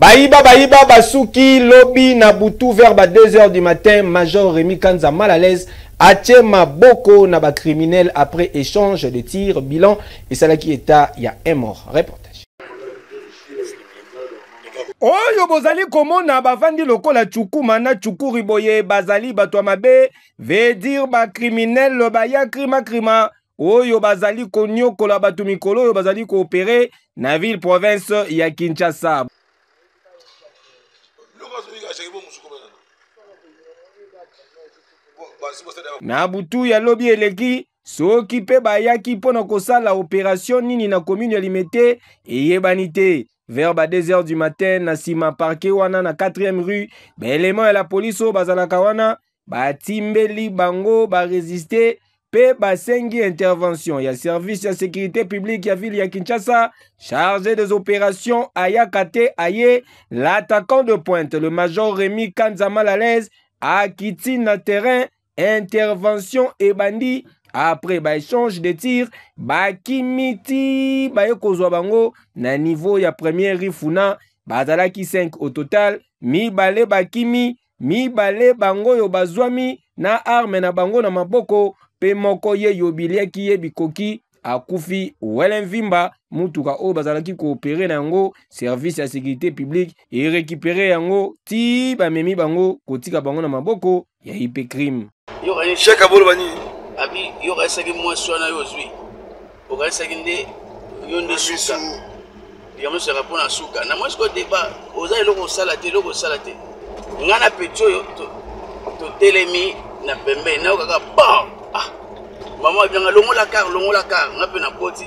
Bayiba bayiba basuki lobi na butu vers ba 2 heures du matin Major Remy Kanza mal à l'aise atie maboko na ba criminels après échange de tir bilan esalaki état ya un mort. Réponse. oyo bozali komona bavandi lokola cukuma na cukuri boye bazali bato ya mabe vedir bacriminel bayakrima krima oyo bazali konyokola bato mikolo oyo bazali koopere na ville province ya Kinshasa. Na butu ya lobi eleki soki mpe bayaki mpo na kosala operation nini na commune ya Limete eyebani te. Vers ba 2 heures du matin na sima parquet wana na 4e rue, ba elements ya la police oyo bazalaka wana batimbeli bango baresiste mpe basengi intervention ya service ya securite publique ya ville ya kinshasa charge des opérations ayaka te aye l'attaquant de pointe le major remi kanza malalaise akiti na terrain intervention ebandi après baéchange de tir bakimi ti baye kozwa bango na niveau ya première rifuna bazalaki 5 au total mibale bakimi mibale bango oyo bazwami na arme na bango na maboko mpe moko ye yobiliaki ye bikoki akufi wele mvimba motuka oyo bazalaki koopere na yango service ya securite publique erekipere yango ti bamemi bango kotika bango na maboko ya ipecrime shek aboloba nini abi yo okanisaki mwasi wana yo ozwi okanisaki nde yo nde suka likambo nyonso yaka mpona suka na mwasi ko deba oza eloko osala te eloko osala te ngai na peti oyo totelemi na pembeni nayo kaka bon ah mama abianga longola kar longola kar ngai mpe na koti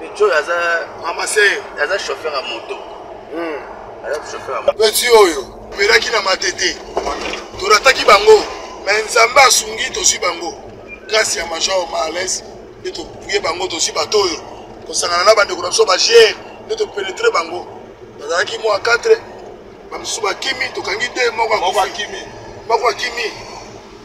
petit oyo aza ramase aza chauffeur ya moto hmm. aza chauffeur ya moto petit oyo omelaki na matete torataki bango me nzambe asungi tozwi bango grâce ya major maales nde toye bango tozwi bato oyo kosangana na bandeko na biso bagere nde topenetre bango bazalaki mwa 4 bamosusu bakimi tokangi te moko akimi moko akimi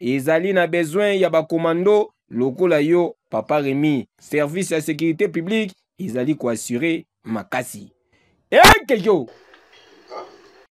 ezali na besoin ya ba commando lokola yo papa Remy. Service ya securite publique ezali ko assurer makasi. Ekejo!